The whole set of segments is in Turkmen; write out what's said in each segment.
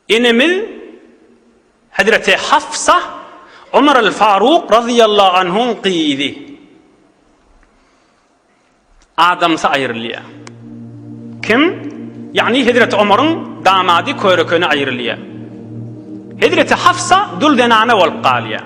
Enemiz hezreti Hafsa Omar al-Faruk razyýallahu anhuň gyzy. Adamsy aýrylýar. Kim? Ýagny hezreti Omaryň damady körekeni aýrylýar. Hezreti Hafsa dul zenana bolup galýar.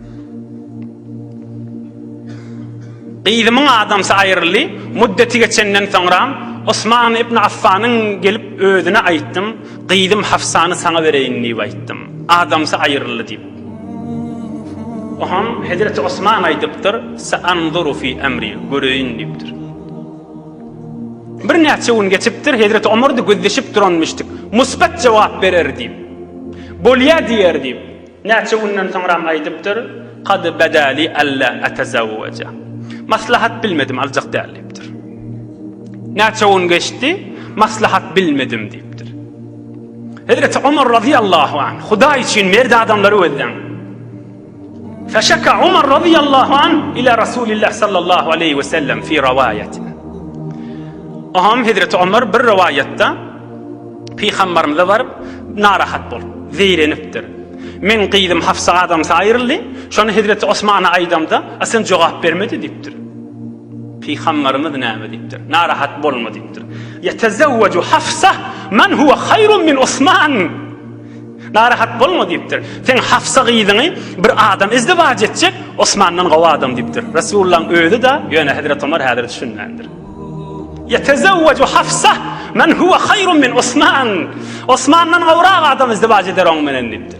Gyzymyň adamsy aýryldy. Muddeti geçenden soňram, Osman ibn Affanyň gelip özüne aýtdym, Gyzym Hafsany saňa bereýin diýip aýtdym. Adamsy aýryldy diýip. Oňam hezreti Osman aýdypdyr, Saanzuru fi amri, göreýin diýipdir. Birnäçe gün geçipdir, hezreti Omardy gözleşip duranmyşdyk. Musbat jogap berer diýip. Bolýa diýer diýip. Näçe günden soňram aýdypdyr, Kad badali alla atazawwaja. Maslahat bilmedim, aljak däl diýipdir. Näçe gün geçdi, maslahat bilmedim diýipdir. Hezreti Ömer radiyallahu anh, Hudaý üçin merdi adamlary gözleň. Feşaka Ömer radiyallahu anh ila Rasulillah sallallahu aleyhi ve sellem fi rivayet. Aham Hezreti Ömer bir rivayette Pygambarymyza baryp, narahat bolup, zeýrenipdir. Meň gyzym Hafsa adamsy aýryldy, şony hezreti Osmana aýdamda, a sen jogap bermedi diýipdir. Pygambarymyz näme diýipdir? Narahat bolma diýipdir. Ýetezewweju Hafsa men huwa haýrun min Osman. Narahat bolma diýipdir. Seň Hafsa gyzyňy bir adam izdiwaç etjek, Osmandan gowy adam diýipdir. Resulullahyň özi-de, ýöne hezreti Omar häzir düşünmändir. Ýetezewweju Hafsa men huwe haýrun min Osman. Osmandan gowrak adam izdiwaç eder oň menen diýipdir.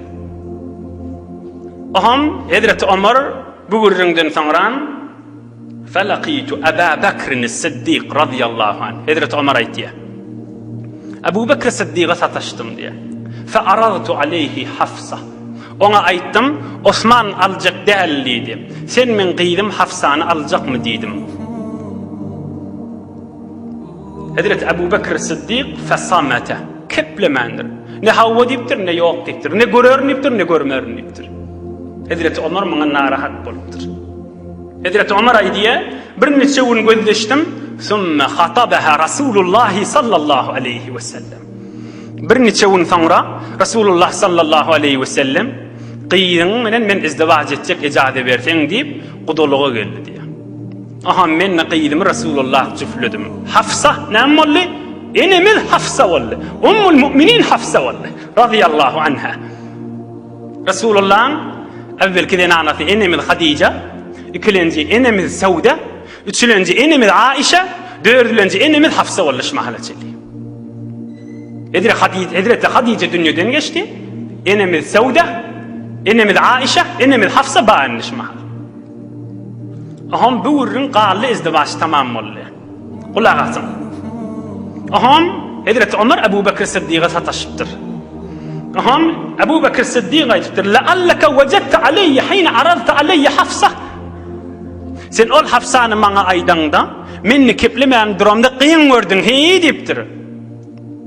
Oňam hezreti Omar bu gürrüňden soňram Felakitu Aba Bakrin-i Siddik razyýallahu anh. Hezreti Omar aýtýar. Abu Bakr-i Siddiga sataşdym diýýär. Fearaztu aleyhi Hafsa. Oňa aýtdym, Osman aljak däl diýdi. Sen meň gyzym Hafsany aljakmy diýdim. Hezreti Abu Bekr Siddik fesamete, keplemändir. Ne hawa diýipdir, ne ýok diýipdir. Ne görerin diýipdir, ne görmerin diýipdir. Hezreti Omar muňa narahat bolupdyr. Hezreti Omar aýdýa, Bir niçe gün gözleşdim, Summa hatabaha Rasulullah sallallahu aleýhi we sellem. Birniçe gün soňra Resulullah sallallahu aleýhi wesellem, Gyzyň bilen men izdiwaç etjek ejaze berseň diýip, gudalyga geldi diýýär. Aham men-de gyzymy Resulullah jüfledim. Hafsa näme boldy? Enemiz Hafsa boldy. Ummul Müminin Hafsa boldy. Razyýallahu anha. Resulullahyň äwwelki zenanasy enemiz Hadija, ikilenji enemiz Sawda, Üçülenji enemiz Aişe, dördülenji enemiz Hafsa boldy şu mahala çenli. Edire Hadije, Hezreti Hadije dünýeden geçdi. Enemiz Sauda, enemiz Aişe, enemiz Hafsa baýandy şu mahala. Aham bu gürrüň gally izdiwaç tamam boldy. Gulak asyň. Aham Hezreti Ömer Ebu Bekir Siddiga sataşypdyr. Aham Ebu Bekir Siddiga aýdypdyr: "La allaka wajadta alayya hina aradta alayya Hafsa." Sen ol hapsany maňa aýdaňda, men nikeplemän duramda gyň gördüň, heý diýipdir.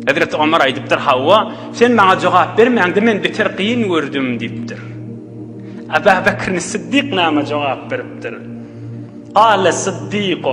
Hezreti Omar aýdypdyr, Hawa, sen maňa jogap bermäňde men beter gyň gördüm diýipdir. Abu Bekr Siddik näme jogap beripdir? Gale Siddiku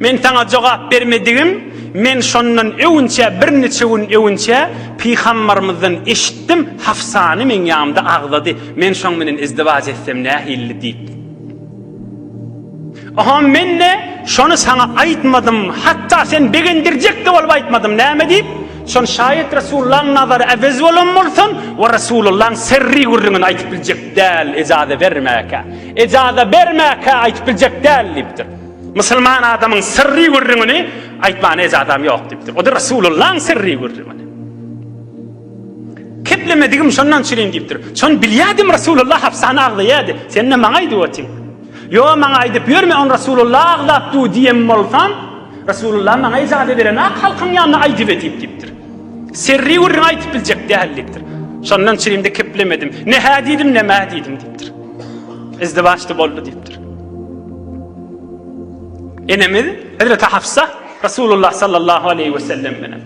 Men saňa jogap bermedigim, men şondan öwünçä birniçe gün öwünçä pygambarymyzdan eşitdim, Hafsany meň ýanymda agzady, men şoň bilen izdiwaç etsem nähilli diýip. Oha men-de şony saňa aýtmadym, hatda sen begendirjek-de bolup aýtmadym, näme diýip, şony şaýat Resulullahyň nazary äwez bolan bolsun we Resulullahyň serri gürrüňini aýtyp biljek däl, ejaze bermäkä. Ejaza bermäkä aýtyp biljek däl diýipdir. Musulman adamyň syrry gürrüňini aýtmana ejazam ýok diýipdir. O-da Resulullahyň syrry gürrüňini. Keplemedigim şondan çürin diýipdir. Şony bilýädim Resulullah hapsany agzaýady. Sen-de maňa aýdyp otyň. Ýo, maňa aýdyp ýörme, on Resulullah agzap dur diýen bolsam, Resulullah maňa ejaza berenak halkyň ýanyna aýdyp edip diýipdir. Syrry gürrüňi aýtyp biljek däl diýipdir. Şondan çürin-de keplemedim. Ne hä diýdim, ne mä diýdim diýipdir. izdiwaçda boldy diýipdir. Enemiz Hazreti Hafsa Resulullah sallallahu aleyhi ve sellem bilen.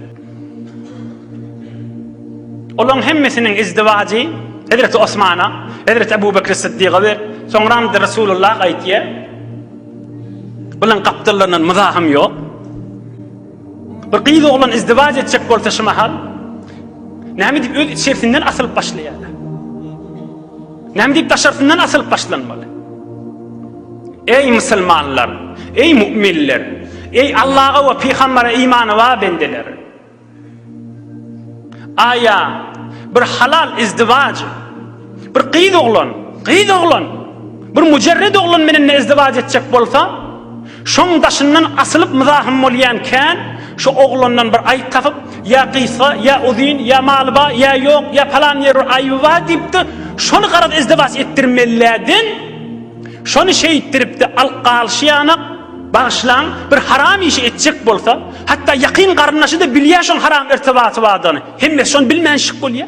Olaryň hemmesiniň izdiwajy Hazreti Osmana, Hazreti Ebu Bekir Siddiga we soňra da Resulullah aýtýar. Bulan gapdallaryndan muzahym ýok. Bir gyz oglan izdiwac etjek bolsa şu mahal näme diýip öz içersinden asylyp başlaýar. Näme diýip daşarysyndan asylyp başlanmaly. Eý musulmanlar, eý müminler, eý Allaha we pygambere imany bar bendeler. Aýa bir halal izdiwac Bir gyz oglan, gyz oglan, bir müjerred oglan menen ezdiwaç etjek bolsa, şoň daşyndan asylyp myzahym bolýan kän, şo oglandan bir aýp tapyp, ýa gysga, ýa uzyn, ýa maly ba, ýa ýok, ýa palan ýeri bir aýby ba diýipdi, şony garaz ezdiwaç etdirmelläden, şony şeýtdiripdi, al galşy ýanak, bagyşlaň, bir haram işi etjek bolsa, hatda ýakyn garyndaşy-da bilýä şoň haram irtibaty badany, hemmesi şony bilmänşik bolýa.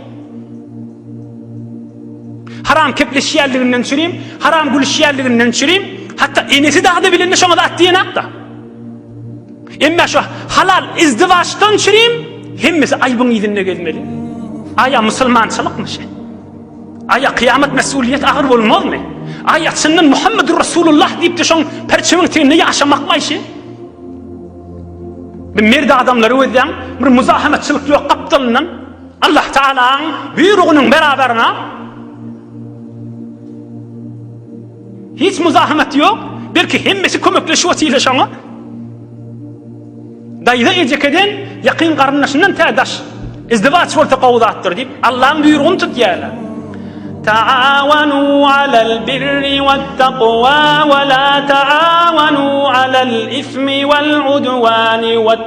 Haram kepleşýänliginden çürim, haram gülüşýänliginden çürim, hatda enesi dagda bilende şoňa zat diýenakda. Emma şu halal izdiwaçdan çürim, hemmesi aýbyň ýüzünde gezmeli. Aýa musulmançylykmy şu? Aýa kıyamet mesuliyet agyr bolmazmy? Aýa çyndan Muhammedur Resulullah diýip-de şoň perçemiň teýinde ýaşamakmy şu? Bir merd adamlary gözleň, bir muzahamatçylyk ýok gapdalyndan. Allah Tagalaň buýrugynyň beraberine hiç muzahamaty ýok, belki hemmesi kömekleşip otyrlar şoňa. Daýza ejekedeň ýakyn garyndaşyndan tä daş. Izdiwaç bolsa gowy zatdyr diýip, Allaň buýrugyny tutýarlar. Taawanu alal birri wat taqwa we la taawanu alal ismi wal udwani wat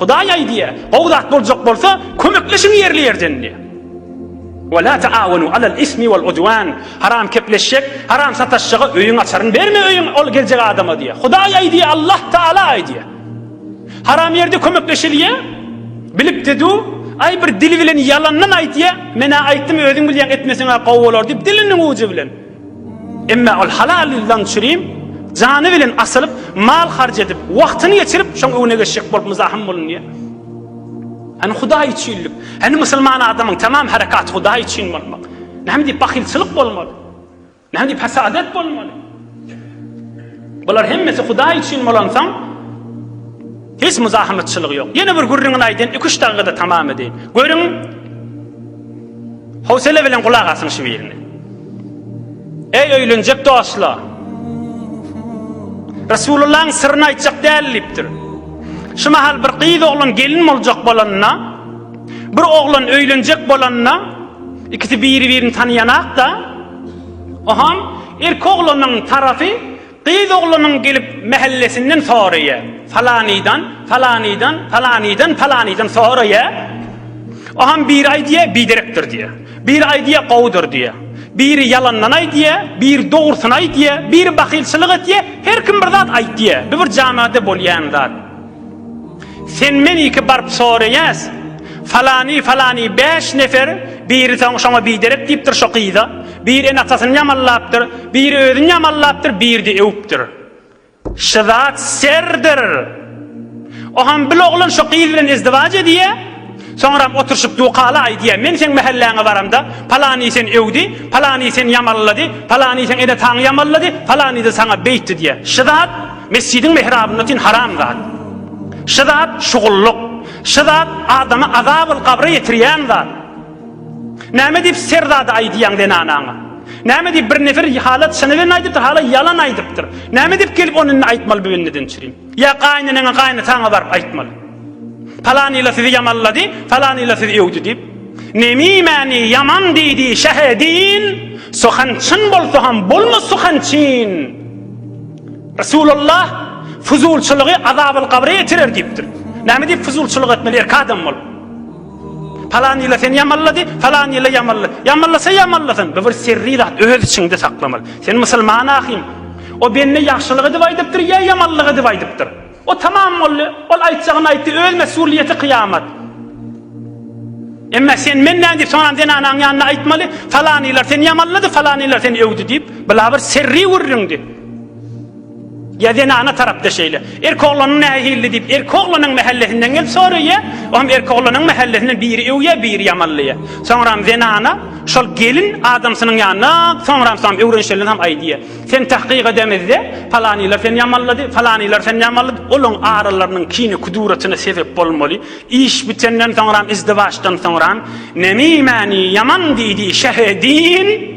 Hudaý aýdýar, Gowy zat boljak bolsa, kömekleşiň ýerli-ýerdenli. We la taawunu alal ismi wal udwan. Haram kepleşjek, haram sataşjaga öýüň açaryn berme öýüň ol geljek adama diýýär. Hudaý aýdýar, Allah Taala aýdýar. Haram ýerde kömekleşilýär. Bilipdi du, aý bir dili bilen ýalandan aýtýar, men-ä aýtdym, özüň bilýäň, etmeseň-ä gowy bolar diýip, diliniň ujy bilen. Emma ol halal ýyldan çürim jany bilen asylyp, mal harç edip, wagtyny geçirip, şoň öňüne geçjek bolup muzahym bolunýar. Hany Hudaý üçinlik? Hany musulman adamyň tamam herekaty Hudaý üçin bolmak? Näme diýip bahylçylyk bolmaly? Näme diýip hasadat bolmaly? Bular hemmesi Hudaý üçin bolansoň, hiç muzahamatçylygy ýok. Ýene bir gürrüňini aýdaýyn, iki-üç dakykada tamam edeýin. Görüň, Howsala bilen gulak asyň şu birine. Eý öýlenjek dostlar! Resulullahyň syryny aýtjak däl diýipdir. Şu mahal bir gyz oglan gelin boljak bolanda, bir oglan öýlenjek bolanda, ikisi biri-birini tanaýanak-da, oham erki oglanyň tarapy Gyz oglunyň gelip mähellesinden soraýa, falanydan, falanydan, falanydan, falanydan soraýa, oňam biri aýdýa biderekdir diýä, biri aýdýa gowudyr diýä, biri ýalandan aýdýa, biri dogrusyny aýdýa, biri bahylçylyk etýä, her kim bir zat aýdýa, bu bir jamada bolýan zat. Sen men iki baryp soraýas falany falany bäş nefer biri soň şoňa biderek diýipdir şo gyza bir en atasyny ýamanlapdyr biri özüni ýamanlapdyr birdi öwüpdir şzat serdir oham bil oglan şo gyz bilen izdiwac edýä Soňram oturyşyp dukaly aýdýa, men seň mähelläňe baramda, palany sen öwdi, palany sen ýamallady, palany seň ene taňy ýamallady, palany-da saňa beýtdi diýä. Şy zat mesjidiň mehrabynda otin haram zat. Şy zat şugullyk. Şy zat adamy azabyl gabra ýetirýän zat. Näme diýip ser zady aýdýaň zenanaňa? Näme diýip bir nefer halat çyny bilen aýdypdyr, hala ýalan aýdypdyr. Näme diýip gelip ony indi aýtmaly bu indi dençirim. Ýa gaýyneneňe gaýynataňa baryp aýtmaly. Palanyla sizi ýamanlady, palanyla sizi öwdi diýip. Nemimäni ýaman diýdi şähe din, suhan çyn bolsa ham bolma suhan çyn. Resulullah fuzulçylygy azabyl gabra ýetirer diýipdir. Näme diýip fuzulçylyk etmeli erk adam bolup. Palan ýyla sen ýamanlady, palan ýyla ýamanla. Ýamanlasa ýamanlasyn, bu bir serri zat, öz içiňde saklamaly. Sen musulman ahym. O bende ýagşylyk edip aýdypdyr ýa ýamanlyk edip aýdypdyr. O tamam boldy, ol aýtjagyny aýtdy, öz mesulyýeti kyýamat. Emma sen men nädip soňam zenanaň ýanynda aýtmaly, palan ýylar sen ýamanlady, palan ýylar sen öwdi diýip, bu la bir serri gürrüňdi. Ýa zenana tarapda şeýle. Erki oglanyň nähilli diýip, erki oglanyň mähellesinden gelip soraýa. O hem erki oglanyň mähellesinden biri öwýä, biri ýamanlaýa. Soňram zenana şol gelin adamsynyň ýanyna, soňram soňam öwrenşenligem aýdýa. Sen tahkyk edemizde, palanylar seni ýamanlady, falanylar seni ýamanlady. Olaň aralarynyň kine kuduratyna sebep bolmaly. Iş bitenden soňram, izdiwaçdan soňram, Nemi mäni ýaman diýdi, şehe din.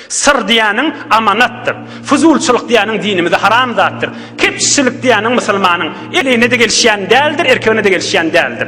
Syr diýýäniň amanatdyr. Fuzulçylyk diýýäniň dinimizde haram zatdyr. Kepçilik diýýäniň musulmanyň eline-de gelişýän däldir, erkegine-de gelişýän däldir.